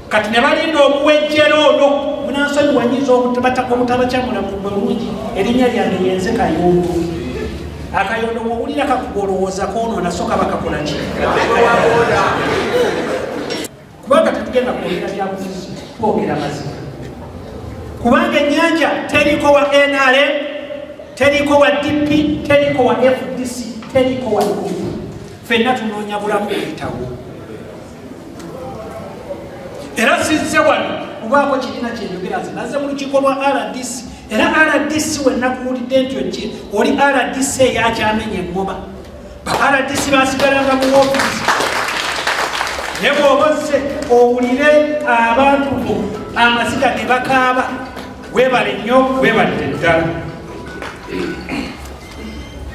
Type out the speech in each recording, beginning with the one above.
kati ne balinda okuwejjera ono munansonyiwa nyinza omutabacamula mu bulungi erinnya lyange yenze kayundu akayondo wowulira kakuba olowooza konoona soka bakakola ki kubanga tetugenda kwogera byabufuzi twogera mazima kubanga enyanja teriko wa nrm teriko wa dp teriko wa fdc teriko wa fenna tunoonya bulamu buyitawo era sizze wano kubaako kirina kyenjogera nze nazze mu lukiiko lwa rdc era rdc wenakuwulidde nti oki oli rdc eyakyamenya eŋŋoma ba rdc basigalanga mu woofiisi naye bwoba ozze owulire abantu bo amaziga ge bakaaba webale nnyo webalire ddala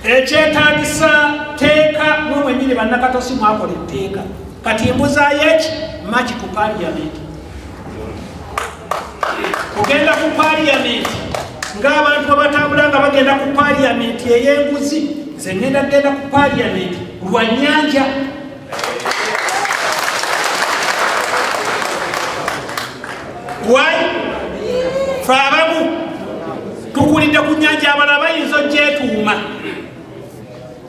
ekyetagisa teeka mwe mwenyini bannakatosi mwakola etteeka kati embuzayo eki maki ku paliyamenti kugenda ku paliyamenti ng'abantu abatambula nga bagenda ku paliyamenti ey'enguzi zengenda kugenda ku paliyamenti lwa nyanja wali fe abamu tukulidde ku nyanja abala bayinza ogyetuuma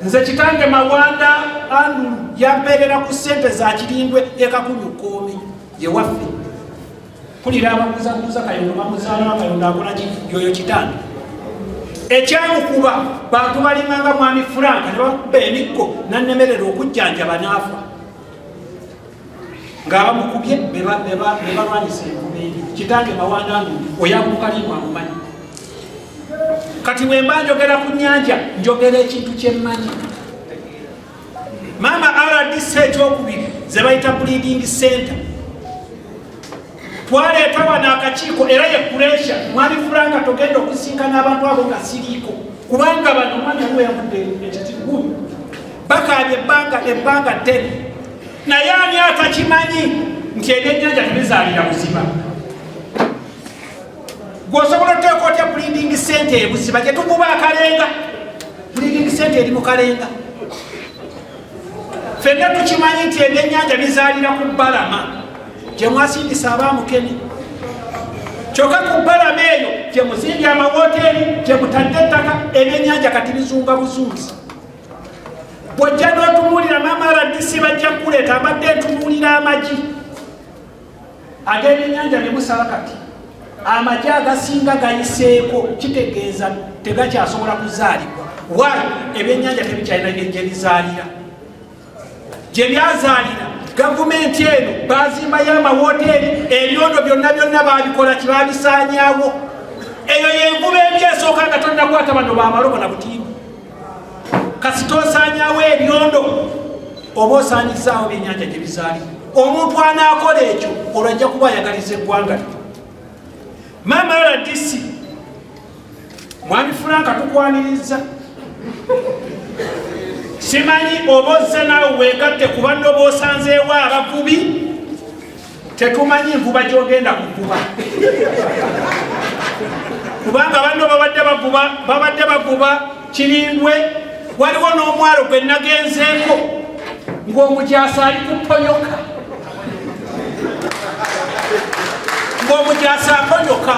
nze kitange mawanda andulu yampeerera ku sente za kirindwe ekakunyukoomi yewaffe kulira abakuzakuza kayondo bamuzaalaa kayondo akolaki yoyo kitanda ekyamukuba bantu balinganga mwami furanka nebakuba emikko nanemerera okujjanjaba naafa ngaabamukubye bebalwanyisa enkuba eri kitange mawandange oyakukalimwamumanyi kati wemba njogera ku nyanja njogera ekintu kyemmanyi maama rdc ekyokubiri zebayita bleeding center twaleeta wano akakiiko era ye kuresha mwali furanga togenda okusinkana abantu abo nga siriiko kubanga bano omwana aliwo yavudde ekitiguyu bakaabye ebbanga ebbanga ddene naye ani atakimanyi nti ebyennyanja tebizaalira buzima gwosobola oteeka otya bleeding center ebuziba gyetukuba akalenga Pulidingi sente eri mu kalenga. Fenna tukimanyi nti ebyennyanja bizaalira ku bbalama gye mwasindisa abaamukene. Kyokka ku bbalama eyo gye muzimbye amawooteeri, gye mutadde ettaka, ebyennyanja kati bizunga buzunzi. Bw'ojja n'otunuulira maama RDC bajja kukuleeta mbadde ntunuulira amagi. ag'ebyennyanja ne musala kati amagye agasinga gayiseeko kitegeeza tegakyasobola kuzaalibwa wa ebyennyanja tebikyalina gye bizaalira gye byazaalira gavumenti eno bazimbayo amawoteeri ebyondo byonna byonna babikola kibabisaanyawo eyo yenvuba embi esooka nga tonnakwata bano bamalobo na butiimu kasita osaanyawo ebyondo oba osaanyizaawo byenyanja gye bizaali omuntu anaakola ekyo olwo ajja kuba ayagaliza eggwanga lye maama rdc mwami fulanka tukwaniriza simanyi oba ozze naawe weegatte kubanna oba osanzeewo abavubi tetumanyi nvuba gyogenda kuvuba kubanga banno babadde bavuba babadde bavuba kirindwe waliwo n'omwalo gwe nagenzeeko ng'omujaasi ali kuponyoka ng'omujaasi aponyoka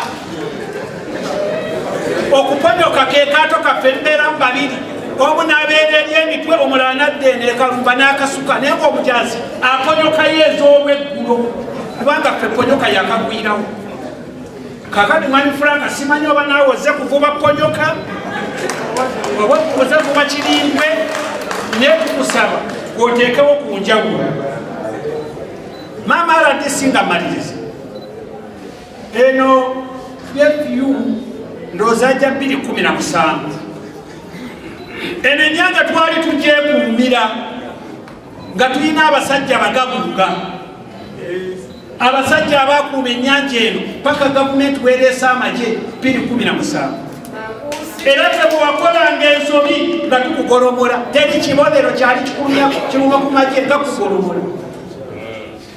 okuponyoka ke kaato kaffe mbeera mu babiri omu nabeera eri emitwe omulala nadde nekalumba n'akasuka naye ng'omujaasi aponyokayo ez'olweggulo kubanga ffe ponyoka yakagwirawo kakati mwami fulanga simanyi oba naawe oze kuvuba ponyoka oba oze kuba kirimbwe naye tukusaba oteekewo ku njawulo maama rdc nga maliriza eno fyu ndooza ja 217 eno enyanga twali tujeekuumira nga tulina abasajja bagabuuga abasajja abakuuma ennyanja eno paka gavumenti wereesa amagye biri kumi na musanvu era tebuwakolanga ensobi nga tukugolomola teri kibonero kyali kikuluma ku magye nga kugolomola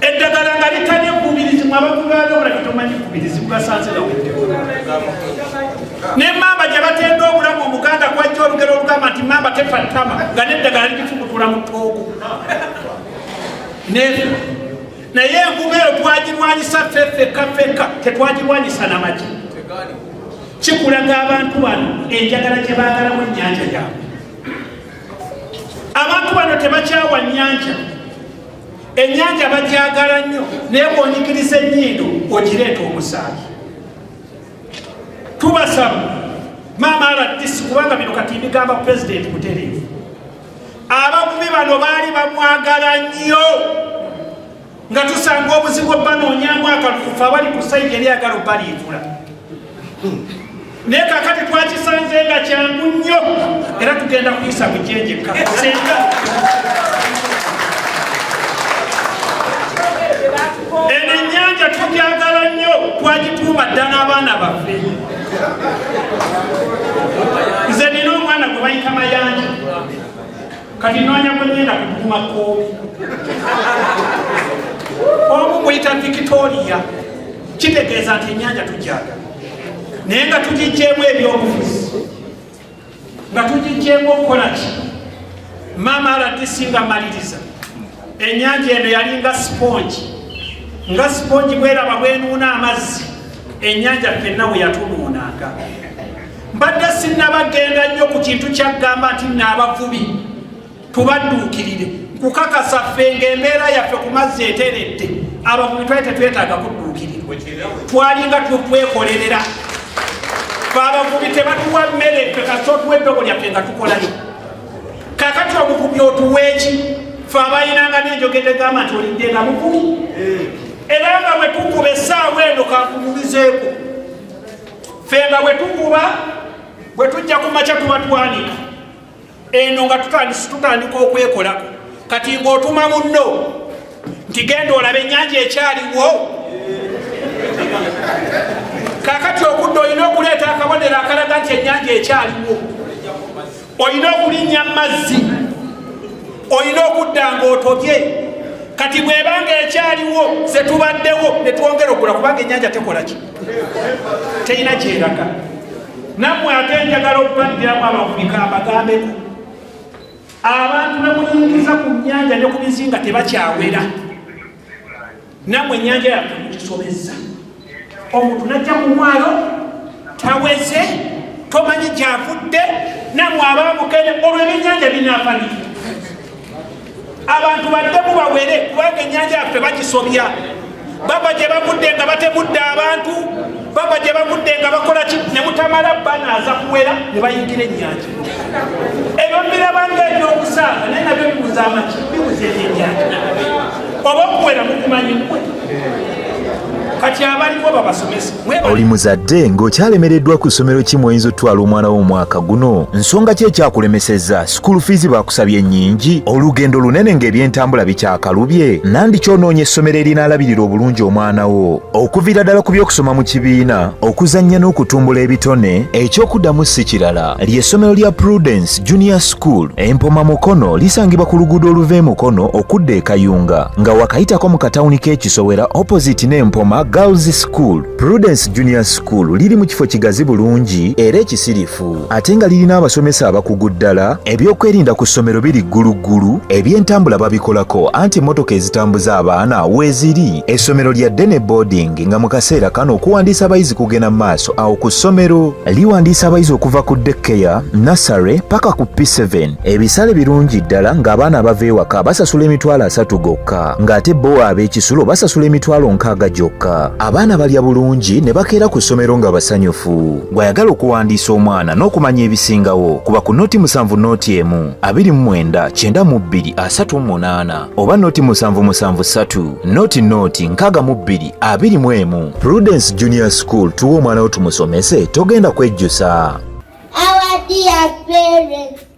eddagala nga litali ekkubirizibwa abantu balyobula kitomanyi kubirizibwa basanziraweddeko ne mamba gye batenda obulamu omuganda kwajja olugero olugamba nti mamba tefa ttama nga neddagala likifubutula mu toogo nefa naye envuba eyo twagirwanyisa fefeka feka tetwagirwanyisa namaki kikulaga abantu bano enjagala gye baagalamu ennyanja yaabwe abantu bano tebakyawa nnyanja ennyanja bagyagala nnyo naye bwonyikiriza ennyindo ogireeta omusaayi tubasaba maama rdc kubanga bino kati bigamba pulezidenti mutereevu abakubi bano baali bamwagala nnyo nga tusanga obuzibu obanoonyamu akalufufo abali ku sayidi eryagala obaliivula naye kakati twakisanze nga kyangu nnyo era tugenda kuyisa mujenjeka senga eno ennyanja tugyagala nnyo twagituuma dda n'abaana baffe nze nina omwana gwe bayita mayanja kati noonya gwe ngenda kuguma koomi omu muyita victoria kitegeeza nti enyanja tujaga naye nga tugijjeemu ebyobufuzi nga tugijjeemu okukola ki maama aladisi nga maliriza enyanja eno yalinga sipongi nga sipongi bweraba bwenuuna amazzi enyanja fenna bwe yatunuunanga mbadde sinnabagenda nnyo ku kintu kyaggamba nti nno abavubi tubadduukirire kukakasa ffe ngaembeera yaffe ku mazzi eteredde abavubi twali tetwetaaga kudduukirirwa twalinga tukwekolerera fe abavubi tebatuwa mmere ffe kasita otuwa eddogo lyaffe nga tukolayo kakati omuvubi otuweeki fe abalinanga nenjogedde gamba nti olidde nga muvubi eh. era nga bwe tukuba essaawa eno kakubulizeeko ffe nga bwe tukuba bwe tujja ku makya tuba twanika eno nga tutandisi tutandika okwekolako kati ng'otuma munno nti genda olaba ennyanja ekyaliwo kakati okudda olina okuleeta akabonero akalaga nti ennyanja ekyaliwo olina okulinnya mazzi olina okudda ng'otobye kati bwebanga ekyaliwo zetubaddewo netwongera okula kubanga enyanja tekola ki terina kyeraga nammwe ate njagala okubaddiramu abafurika abagambeko abantu bemuyingiza ku nyanja ne ku bizinga tebakyawera namwe enyanja yaffe mugisobezza omuntu najja ku mwalo taweze tomanyi gyavudde namwe abamukene olwo ebyenyanja binafaniki abantu badde mubawere kubanga enyanja yaffe bagisobya baba gye bavudde nga batemudde abantu baba gye bagudde nga bakola ki ne mutamala banaaza kuwera ne bayingira ennyanja ebyo birabanga ebyokusaaga naye nabyo bibuza amaki bibuza ebyennyanja oba okuwera mukumanyi mwe kati abaliko babasomesa oli muzadde ng'okyalemereddwa ku ssomero ki mweyinza otutwala omwana wo omwaka guno nsonga ki ekyakulemesezza sikuulu fiizi baakusabye nnyingi olugendo lunene ng'ebyentambula bikyakalubye nandi kyonoonye essomero erinaalabirira obulungi omwana wo Okuvira ddala ku by'okusoma mu kibiina, okuzannya n'okutumbula ebitone, eky'okuddamu si kirala ly'essomero lya Prudence Junior School Empoma Mukono lisangibwa ku luguudo oluva e Mukono okudda e Kayunga nga wakayitako mu katawuni k'ekisowera opposite n'Empoma Girls School. Prudence Junior School liri mu kifo kigazi bulungi era ekisirifu. eggulumivu ate nga lirina abasomesa abakugu ddala ebyokwerinda ku ssomero biri gguluggulu ebyentambula babikolako anti emmotoka ezitambuza abaana weeziri essomero lya dene boarding nga mu kaseera kano okuwandiisa abayizi kugenda mu maaso awo ku ssomero liwandiisa abayizi okuva ku dekkeya nasare paka ku p7 ebisale birungi ddala ng'abaana abava ewaka basasula emitwalo asatu gokka ng'ate bo ab'ekisulo basasula emitwalo nkaaga gyokka abaana balya bulungi ne bakeera ku ssomero nga basanyufu gw'ayagala okuwandiisa omwana n'okumanya ebisingawo kuba ku noti musanvu noti emu abiri mu mwenda kyenda mu bbiri asatu mu munaana oba noti musanvu musanvu ssatu noti noti nkaaga mu bbiri abiri mu emu prudence junior school tuwa omwana wo tumusomese togenda kwejjusa